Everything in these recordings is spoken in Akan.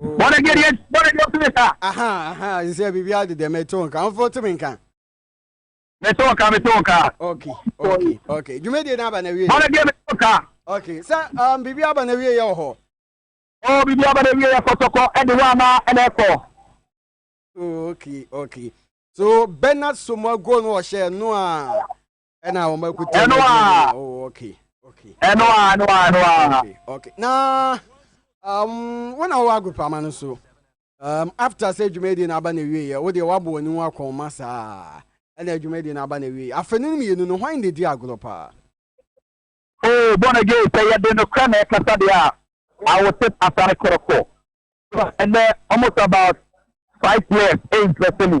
Bɔne deɛ deɛ bɔne deɛ ɔtumi ka. Aha aha nsɛ biribi adi deɛ mɛto nka ɔmfa ɔtumi nka. Mɛto nka mɛto nka. Ok ok ok dwumadie n'aba na wie. Bɔne deɛ mɛto nka. Ok sɛ um, biribi aba na wie yɛ wɔ hɔ. Ɔ oh, biribi aba na wie yɛ kɔtɔkɔ ɛde hɔ ama ɛna ɛkɔ. Oh, ok ok so Bernard Somago no ɔhyɛ no a. ɛna wɔn akuta ɛno a oh, okay okay ɛno a ɛno a ɛno a okay okay na um wɔn a wɔwɔ agopama no so um after sɛ dwumadi na aba na ewie yɛ wɔde wɔabɔ wɔn ho akɔn ma saa ɛna dwumadi na aba na ewie yɛ afɛ no mmienu no hwan na edi agorɔ paa. oh born again sɛ yɛde no kura na ɛkasa deɛ a i will sit asare korokoro ɛnɛ almost about five years ɛyɛ nsɛsɛ mu.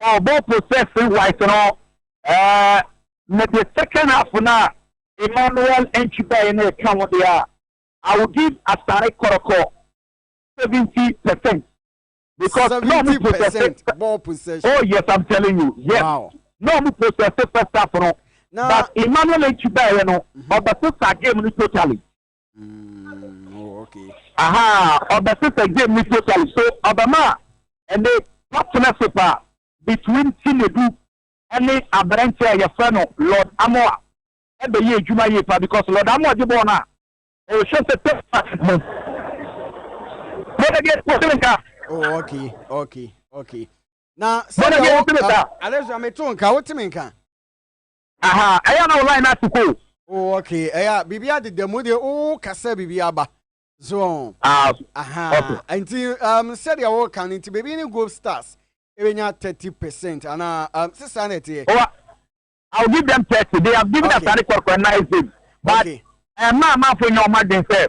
Oh, ball possess wise no, uh, me the second half na Emmanuel Nchibai na ɛka ho deɛ a, I will give Asare Kɔrɔkɔ seventy percent. Because no ɔmo possess ball possession. Oh yes, I'm telling you, yes. Wow. No ɔmo possess first half no. Now, but Emmanuel Nchibai no, ɔbɛsesa mm-hmm. game no totally. Mm, oh, okay. Aha, ɔbɛsesa game ni totally so ɔbɛma ɛne watena so paa between Chinedu ɛne aberanteɛ a yɛfrɛ no Lord Amoa ɛbɛyɛ adwuma yie paa because Lord Amoa gye bɔɔl no a ɔhwɛ sɛ tɛpa mu mɛdɛdeɛ wɔsene nka oh okay okay okay na sɛdeɛ wo alexia meto nka woteme nka Aha ɛyɛ a na wo line no ase kɔ o. Oh ok ɛyɛ a biribi adeda mu deɛ wo ka sɛ biribi aba so wɔn Ah ok. Ahaa nti um sɛdeɛ wo ka no nti baabi ne Gold Stars ɛbɛnya thirty percent anaa um se saa na ɛteɛ. Oh I will give them thirty they have given us ade kɔrɔkɔrɔ nice bid but ɛmma amanfoɔ nyɛ wɔn adwene sɛ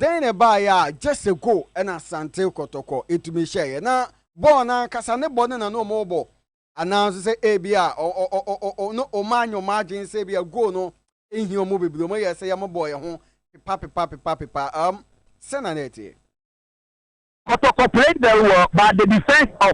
Dɛn na ɛbaeɛ a Jessico ne Asante Kɔtɔkɔ tumi hyɛeɛ? Ná bɔɔl no ankasa ne bɔne na na wɔrebɔ, anaa nso sɛ ebia na wɔanyɛ wɔn adwene sɛ ebia goal no nhia wɔn bebree, wɔyɛɛ sɛ wɔbɔɔ yɛn ho pepapepapepapepaa. Ɛɛm, sɛn na na ɛteɛ? Kotoko played very well but the defence of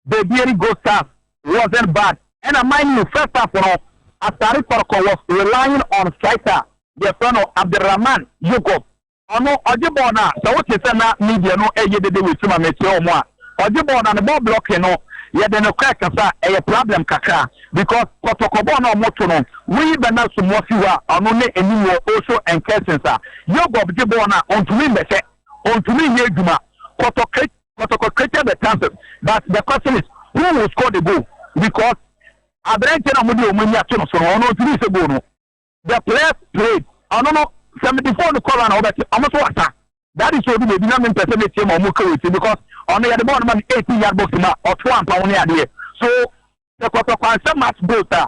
Bebeiri Gold Stars wasn't bad ɛna mind you first half no Asare Kotoko was relying on striker yɛfrɛ no Abdelrahman Yogob ɔno ɔgye bɔɔl no a sɛ wote sɛ na media no ɛyɛ dede wɔ akyiri ma mekyerɛ wɔn a ɔgye bɔɔl no a ne bɔɔl blocking no yɛde no kɔɛ kasa ɛyɛ problem kakra because Kotoko bɔɔl no a wɔto no woyi Bernard Sumwa fi hɔ a ɔno ne anim wɔ also Enkersins a Yogob gye bɔɔl no a ɔntumi mmɛhyɛ ontumi nyɛ adwuma kɔtɔ kɛ kɔtɔ kɔ created the chances but the question is who will score the goal because aberanteɛ na wɔde wɔn ani ato no so no ɔno ontumi nsɛ goal no the players played ɔno no seventy four no kɔla na wɔbɛte wɔn so asa that is obi baabi na mi mpɛ sɛ mi tie ma wɔn kɛ wɔ ti because ɔno yɛde bɔɔl no ma no eighteen yard box ma ɔto ampa wɔn ne adeɛ so sɛ kɔtɔ kwansɛ match goals a.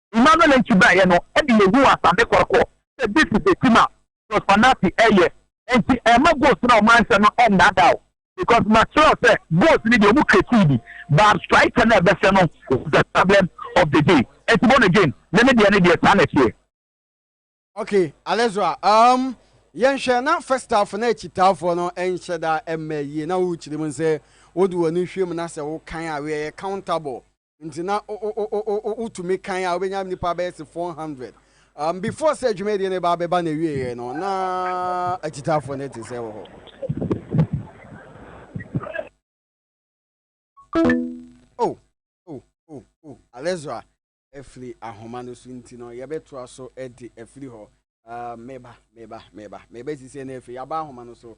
Emmanuel Antwi baeɛ no de yɛhuu asade kɔrɔkɔ sɛ this is a team a Jos Fanati reyɛ nti ɛmma goals no a wɔanhyɛ no nnaadaa wo because makyerɛ wo sɛ goals no deɛ wɔn creative bi but striker no a ɛbɛhyɛ no was the problem of the day nti born again ne me deɛ no deɛ saa na ɛteɛ. Okay, Alezra, um, yɛnhwɛ na first half na akyitaafoɔ no nhyɛ da mma yie na wokyerɛ mu sɛ wode w'ani hwɛ mu na sɛ wokan a woyɛ counter ball Nti na wotumi kan a wobɛnya nnipa bɛyɛ se 400. Um, before sɛ dwumadie no ba bɛba na ɛwieɛ no na akyitaafoɔ no te sɛ wɔ hɔ. Oh, oh, oh, oh, Alezra afiri ahoma no so nti no yɛbɛtoa so de afiri hɔ. Uh, meba, meba, meba, meba sisɛ no afiri yɛaba ahoma no so.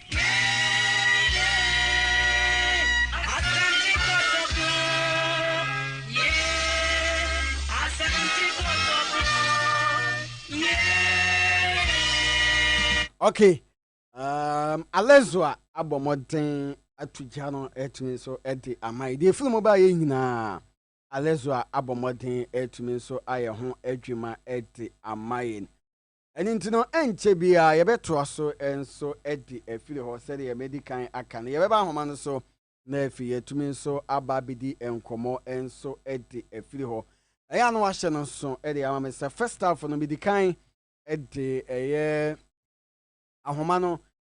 okay um, alezo a abɔ mmɔden ato gya no atumi nso de ama yɛ deɛ firi mu ba yɛ nyinaa alezo a abɔ mmɔden atumi nso ayɛ ho adwuma de ama yɛn Ɛno nti no, ɛnkyɛ biara yɛbɛtoa so nso de afiri hɔ. Sɛdeɛ madi kan aka no, yɛbɛba nhoma no so, na afei yɛatumi nso aba abɛdi nkɔmmɔ nso de afiri hɔ. Ɛyɛ a na wɔahyɛ no nso de ama me sɛ first half no medi kan de ɛyɛ ahoma no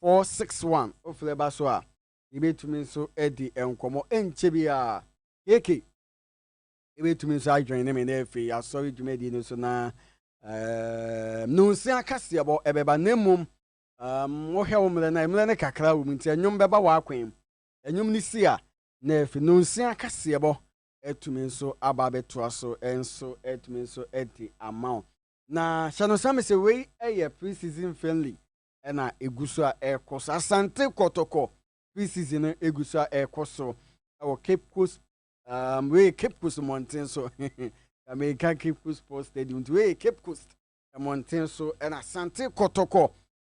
461 Wofrɛ ba so a, yebetumi nso adi nkɔmmɔ. Ɛnkyɛ biara, KK betumi nso adwen ne me na afei asɔre dwumadi no so na um, nnunsia kaseɛbɔ ɛbɛba, na mmom um, wohwɛ wo mmerɛ no a, mmerɛ no kakra wɔ mu nti ɛnwom bɛba w'akwan mu. Ɛnwom no si a, na afei nnunsia kaseɛbɔ atumi nso aba abɛtoa so nso atumi nso adi ama wo. Na hyɛ no nsa me sɛ wei yɛ pre-season friendly. na ɛgu so a ɛrekɔ so. Asante Kɔtɔkɔ pre-season no ɛgu so a ɛrekɔ so wɔ Cape Coast um, wei Cape Coast mmɔnten so Amerika Cape Coast Sports Stadium nti wei Cape Coast mmɔnten so ɛna Asante Kɔtɔkɔ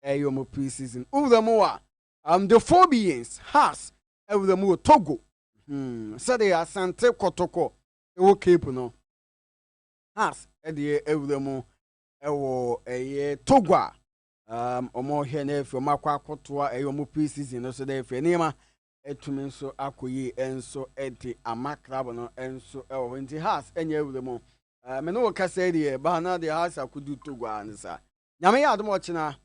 ɛyɛ wɔn pre-season wura mu a um, the Phobians Hearts ɛwura mu wɔ Togo hmm, sɛdeɛ Asante Kɔtɔkɔ ɛwɔ Cape no Hearts ɛdeɛ ɛwura mu ɛwɔ ɛyɛ Togo a um, wɔhwɛ na afei wɔakɔ akɔtoa ɛyɛ wɔn pre-season no so na afei nneɛma atumi nso akɔ yie nso de ama club no nso ɛwɔ hɔ nti Haas ɛnyɛ awura mu uh, me ne wo kasa yi deɛ baa na deɛ Haas akodu Togo a ne saa nyame yɛ adom ɔkyena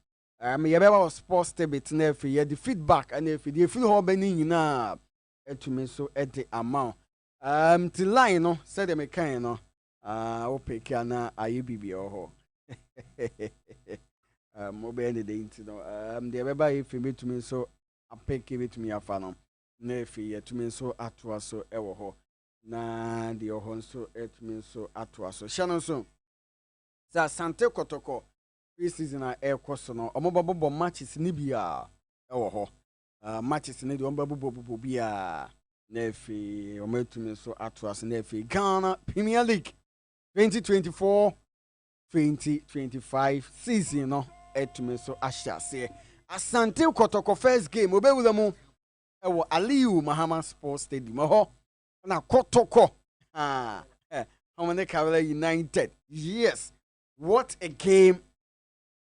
um, yɛbɛba wɔ sports tebit na afei yɛde feedback na afei deɛ ɛfiri hɔ bɛ ne nyinaa atumi nso de ama wo um, ti line no sɛdeɛ mekae no Ah, wo peke a na ayɛ biribi wɔ hɔ. Ah, mobɛyɛ ne dɛn nti no? Ah, deɛ ɛbɛba yɛ firi bɛtumi nso apeke bɛtumi afa no. Na afei yɛtumi nso atoa so wɔ hɔ. Na deɛ ɔhɔ nso atumi nso atoa so. Hyɛ no nso. Sɛ Asante Kɔtɔkɔ pre-season a ɛrekɔ so no, wɔbɛbobɔ matches no bi a ɛwɔ hɔ. uh, matches no deɛ wɔn bɛbobɔ bobɔ bi a na afei wɔn atumi nso ato ase na afei ghana premier league 2024 2025 season no atumi nso ahyɛ aseɛ asante kɔtɔkɔ first game obɛwura mu ɛwɔ aliu mahama sports stadium ɛhɔ na kɔtɔkɔ ah, eh, wɔn ne kawla united yes what a game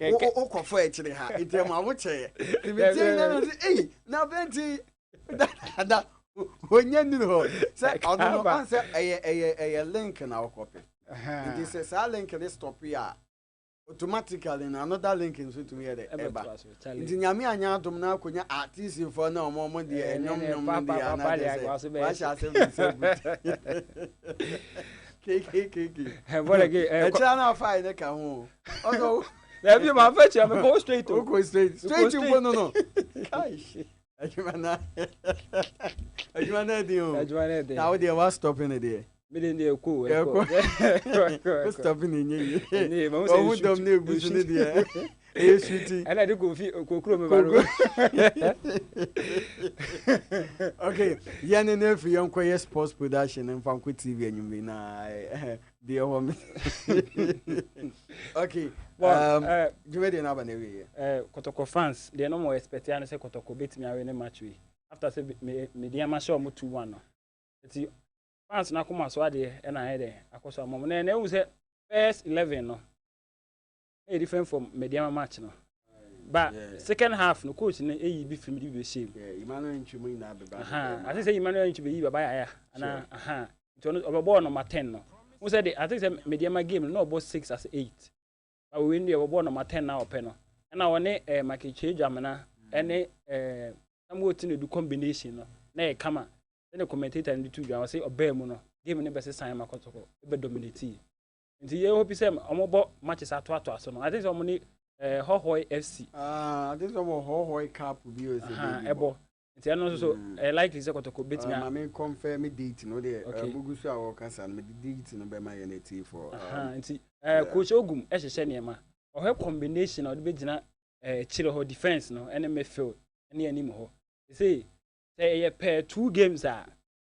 wokɔfɔ akyire ha nti ɛma wo kyɛɛ nti metie nyɛ no sɛ ei na afei nti dada ɔnyɛ nnuru hɔ sɛ ɔno no ɔn sɛ ɛyɛ ɛyɛ ɛyɛ link na wokɔpɛ nti sɛ saa link ne stop yi a automatically na another link nso tumi yɛ dɛ ɛba nti nyame anyɛ adom na akɔnya artistfoɔ na ɔmo ɔmo deɛ ɛnwom nwom no deɛ anadeɛ sɛ wahyɛ asɛm ne sɛ but ɛkyerɛ no afa ne ka ho dabi ma fa kyerɛ me kɔ straight kɔ straight straight mpo no no adwuma na adwuma na ɛden o adwuma na ɛden na wo deɛ wa stop ne deɛ mede deɛ kɔ ɛkɔ wo stop ne nyɛ yie ɔho dɔm ne ɛgu so ne deɛ ɛyɛ suti ɛna ɛde kofi kokuro mi ba no okay yɛn ne ne efi yɛn kɔ yɛ sports production nfa nkɔ tv enyim bi na deɛ ɛwɔ mi okay um, eh, dwuma deɛ n'aba na ewie yɛ. Eh, kɔtɔkɔ fans deɛ no mo expect ya no sɛ kɔtɔkɔ betumi awe ne match wi after sɛ me me deɛ ma hyɛ ɔmo two one no eti fans n'akoma so adeɛ ɛna ayɛ dɛ akɔ so ama ɔmo na ɛna ehu sɛ first eleven no. ɛyɛ different from Mediama match no. But yeah. second half no coach no eyi bi film de bi bɛhyɛ mu. Yeah, Emmanuel Ntwi mu nyinaa bɛba. Aha, I think sɛ Emmanuel Ntwi bɛyi baba yaya. Ana aha. Nti ɔno ɔbɛbɔ number 10 no. Wo sɛ de I think sɛ Mediama game no na ɔbɔ 6 as 8. Ba wo win de ɔbɛbɔ number 10 na ɔpɛ no. Ɛna ɔne eh Makiche Dwamena ɛne eh Samuel Tino du combination no. Na yɛ kama. Sɛ ne commentator no de tu dwa ɔsɛ ɔbaa mu no. Game no bɛsɛ san ma kɔtɔkɔ. Ɛbɛ dominate. Nti yɛ hope sɛ ɔmo bɔ matches atoatoa so no. I think sɛ ɔmo ne eh, Hɔhɔe FC. Ah, I think sɛ ɔmo Hɔhɔe cup bi o sɛ baabi bɔ. Ɛbɔ. Nti ɛno nso so hmm. ɛyɛ likely sɛ Kɔtɔkɔ betumi a. Maame kɔnfɛ me date no deɛ okay. mugu so a wɔkasa no mede date no bɛma yɛn atiifoɔ. Um, nti eh, coach Ogum ɛhyehyɛ nneɛma ɔhwɛ combination a ɔde bɛgyina eh, akyire hɔ defence no ɛne midfield ɛne anim hɔ. Ɛsei sɛ ɛyɛ pɛɛ two games a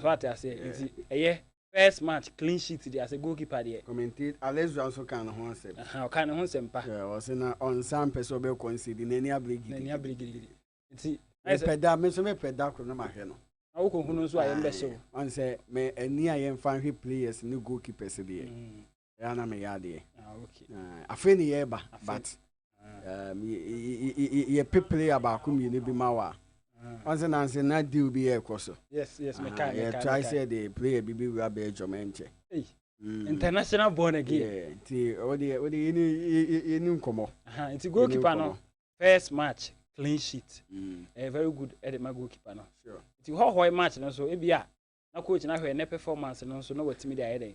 So ate aseɛ? Yeah. Nti ɛyɛ first match clean sheet deɛ asɛ goalkeeper deɛ. Commentate Alezra nso kaa ne ho asɛm. Aha ɔkaa ne ho nsɛm pa. Yeah, ɔse na ɔnsa mpɛ sɛ ɔbɛkɔ nsɛdi n'ani abere gidigidi. N'ani abere gidigidi. Nti. Mepɛ da me nso mepɛ da koro no mahwɛ no. Na wokɔ hu no nso a yɛn bɛhyɛ o. Ɔn sɛ me ani a yɛn fa nhwɛ players ne goalkeepers deɛ. Mm. ɛyɛ na meyɛ adeɛ ah, afei ne yɛreba but um, yɛpe player baako mmienu bi ma wa ɔnse nanse na deal bi yɛ ɛkɔ so ah, yɛtrae sɛ de player bi bi wura bɛɛ dwom ɛnkyɛ Mm. international born again. nti ɔde ɔde yɛ ni yɛ ni nkɔmɔ. nti goalkeeper no first match clean sheet. Mm. ɛyɛ very good ɛde ma goalkeeper no. nti hɔhɔɛ match no so ebi a na coach na hwɛ ne performance no nso na watumi de ayɛ dɛ.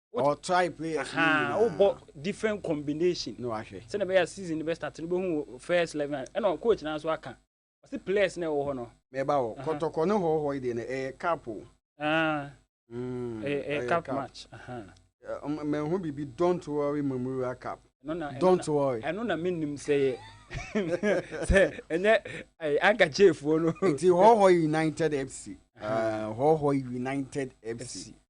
Wo try players no nyinaa. Wo bɔ different combination. Na wahwɛ. Sɛ na bɛyɛ season no bɛ start no bɛhu wo first eleven. Ɛna coach na nso aka. Ɔsi players na ɛwɔ hɔ no. Mɛba hɔ. Kɔtɔkɔ ne hɔhɔ yi deɛ no ɛyɛ cup o. Ɛyɛ cup match. Mɛnhu biribi don't worry Mamuruwa cup. Don't worry. Ɛno na menim sɛ yɛ. Sɛ ɛnyɛ anka chefuo no. Nti hɔhɔ united FC. Hɔhɔ united FC.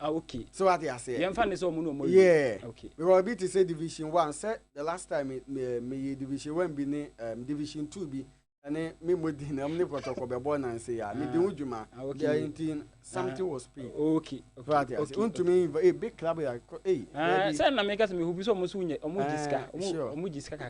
Ah, okay. So what you say? Yɛmfa ne sɛ ɔmo na ɔmo awie. Yeah. Okay. Because ebi te sɛ division one sɛ the last time me me me yɛ division one bi ne um, division two bi ɛne me mo di na ɔmo ne pɔtɔkɔ bɛ bɔ nansi ya me di ho dwuma. Ah, okay. Deɛ nti something was paid. Ah, okay. So what you say? Ntumi inv ee big club yɛ kɔ ee. Ah, Dabi. sɛ na meka sɛ mehobi sɛ ɔmo so wonya ɔmo gye sika Ah, ɔmo sure. ɔmo gye sika kakra.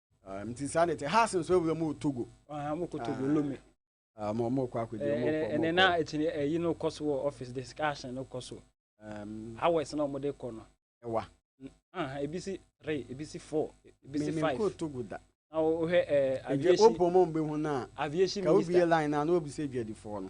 Ah, nti saa na ɛte has nso awura mu wɔ togo ah, mokɔ togo ah. lome ma ɔmokɔ akɔdi eh, eh, eh, ɛnɛ na ɛkyini ɛyi no kɔ so wɔ office discussion no kɔ so um, hours na ɔmode kɔ no ɛwa ebi si three ebi si four ebi si five mekɔ togo da na wohwɛ aviation wobɔ mu mbɛhu no a aviation minister ka wobie line no a na wɔbisɛ adwadifoɔ no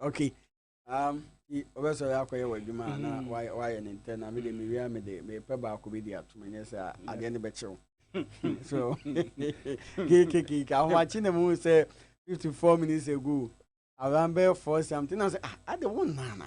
okay um ɔbɛsɔre akɔyɛ wɔ adwuma a na wayɛ ne ntɛ na mede mewia mede mepɛ baako bi de atom ɛnyɛ sɛ adeɛ no bɛkyew so kekekeke ahomakye na mu sɛ 54 minutes ago around bɛyɛ 4 something na sɛ ah ade wo nana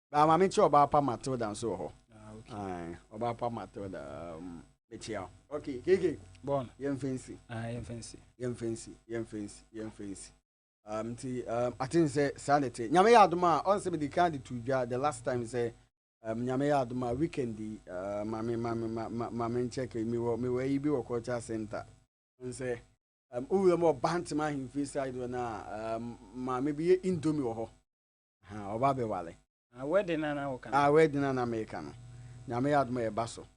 Baa ma mekyia ɔbaa pa Matilda nso wɔ hɔ. Ah, okay. Aye, ɔbaa pa Matilda um, mekyia. Okay, keke. Bon. Yɛn fancy. Ah, yɛn fancy. Yɛn fancy, yɛn fancy, yɛn fancy. Um, nti um, aten sɛ saa na ɛte. Nyame yɛ adom a, ɔn sɛ mede kan de to dwa the last time sɛ um, nyame yɛ adom a weekend yi uh, ma me ma me ma ma ma me nkyɛk me wɔ me wɔ ayi bi wɔ culture center. Ɔn sɛ um, owura mu wɔ Bantama ahemfie side wɔ na um, maame bi yɛ indomie wɔ hɔ. Aha, ɔba bɛ wale. Ah, wedding na na woka no. Ah, wedding na na meka no. Nyame yɛ adom a ɛba so.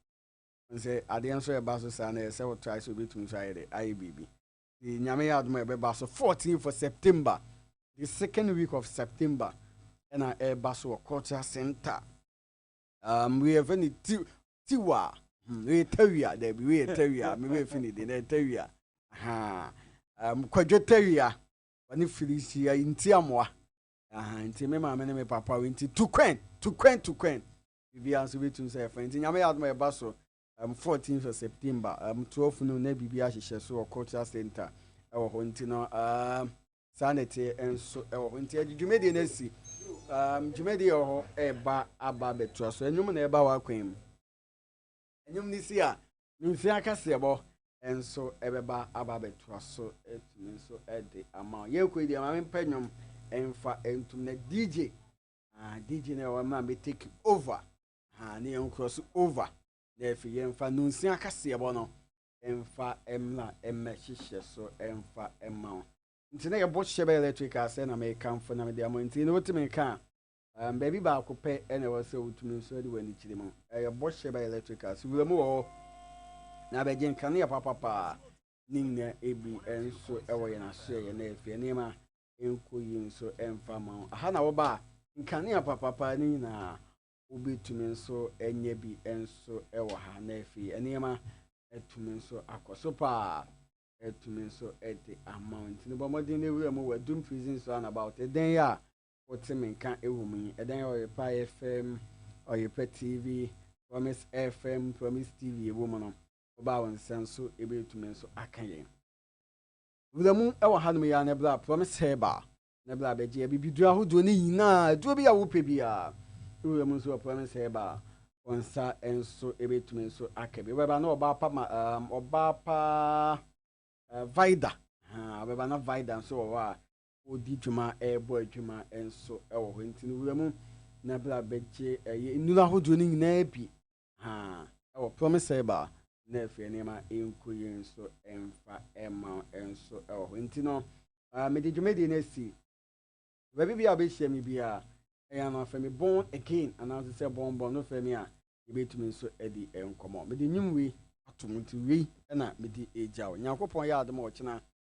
Wohu sɛ adeɛ nso ɛba so saa no ɛyɛ sɛ wo try sɛ wobɛtumi nso ayɛ dɛ, ayɛ biribi. Nti Nyame yɛ adom a ɛbɛba so 14th of September, the second week of September ɛna ɛba so wɔ cultural center. Um, wei yɛfɛ no ti, tiwa, hmm, wei yɛ tawia, daabi, wei yɛ tawia, mebɛfi ne din, ɛyɛ tawia. Aha, um, kwadwo tawia. ɔne Filistia yi nti amoa. Aha, nti me maame ne me papa wɔ nti to queen, to queen, to queen. Biribiara nso bɛtumi sɛ ɛfa nti nyame yɛ adom a ɛba so um, 14th of September um, 12 no na biribi ahyehyɛ so wɔ cultural center ɛwɔ hɔ nti no um, saa na ɛte nso ɛwɔ hɔ nti ɛde dwumadie no asi um, dwumadie wɔ hɔ ɛba aba bɛtoa so ɛnwom na ɛba wɔ akwan mu Ɛnyom no si a, ne mfe akaseɛbɔ nso bɛba aba abɛtoa so atumi nso de ama wo. Yɛkɔ yi deɛ maame mpɛ nnwom mfa ntom na DJ ah, DJ na ɛwɔ mmerɛ a mɛtake over ah, ne yɛn nkorɔ so over na afei yɛmfa nonsia akaseɛbɔ no mfa mmra mmɛhyehyɛ so mfa mma wo nti na yɛbɔ hyɛ bɛ electric asɛ na mekamfo na mede ama nti na wotumi ka a Baabi baako pɛ na ɛwɔ sɛ wotumi nso de w'ani kyerɛ mu. Ɛyɛ bɔhyɛ by electrical. So wura mu wɔ hɔ na abɛgye nkanea papapaa. Ne nyinaa ebi nso wɔ yɛn asoɛeɛ na afei nneɛma nkɔ yie nso mfa ma wo. Aha na woba a nkanea papapaa ne nyinaa wobɛtumi nso anya bi nso wɔ ha na afei nneɛma atumi nso akɔ so paa atumi nso de ama wo. Nti no bɔ mmɔden na wura mu wɔ Doom Prison so and about. Ɛdɛn a Wote me nka wɔ mu yi, ɛdɛn a Ɔyepa FM, Ɔyepa TV, Promise FM, Promise TV wɔ mu no, wobaa wo nsa nso ɛbɛtumi nso aka yɛn. Wuramu wɔ hanom yi ara na bra Promise Herbal na bra bɛgye abibiduro ahodoɔ no nyinaa, aduro bi a wopɛ biara, wura mu nso wɔ Promise Herbal, wo nsa nso ɛbɛtumi nso aka bi. Wobɛba na ɔbaa pa ma, um, ɔbaa pa uh, Vida, uh, wobɛba na Vida nso wɔ hɔ a, Ɔredi dwuma, rebɔ adwuma nso wɔ hɔ. Enti no wura mu na bra bɛgye ɛyɛ nnuro ahodoɔ no nyinaa bi ha wɔ Promise Herbal na afei nneɛma nko yi nso mfa ma nso wɔ hɔ. Enti no mede dwumadie no asi baabi bi a wobɛhyia me bi a ɛyɛ no afɛ me bɔn again anaa nso sɛ bɔn bɔn no fɛ me a yɛbɛtumi nso adi nkɔmmɔ. Mede nnwom wei atom nti wei na mede agya wo. Nyankopɔn yɛ adom a ɔkyena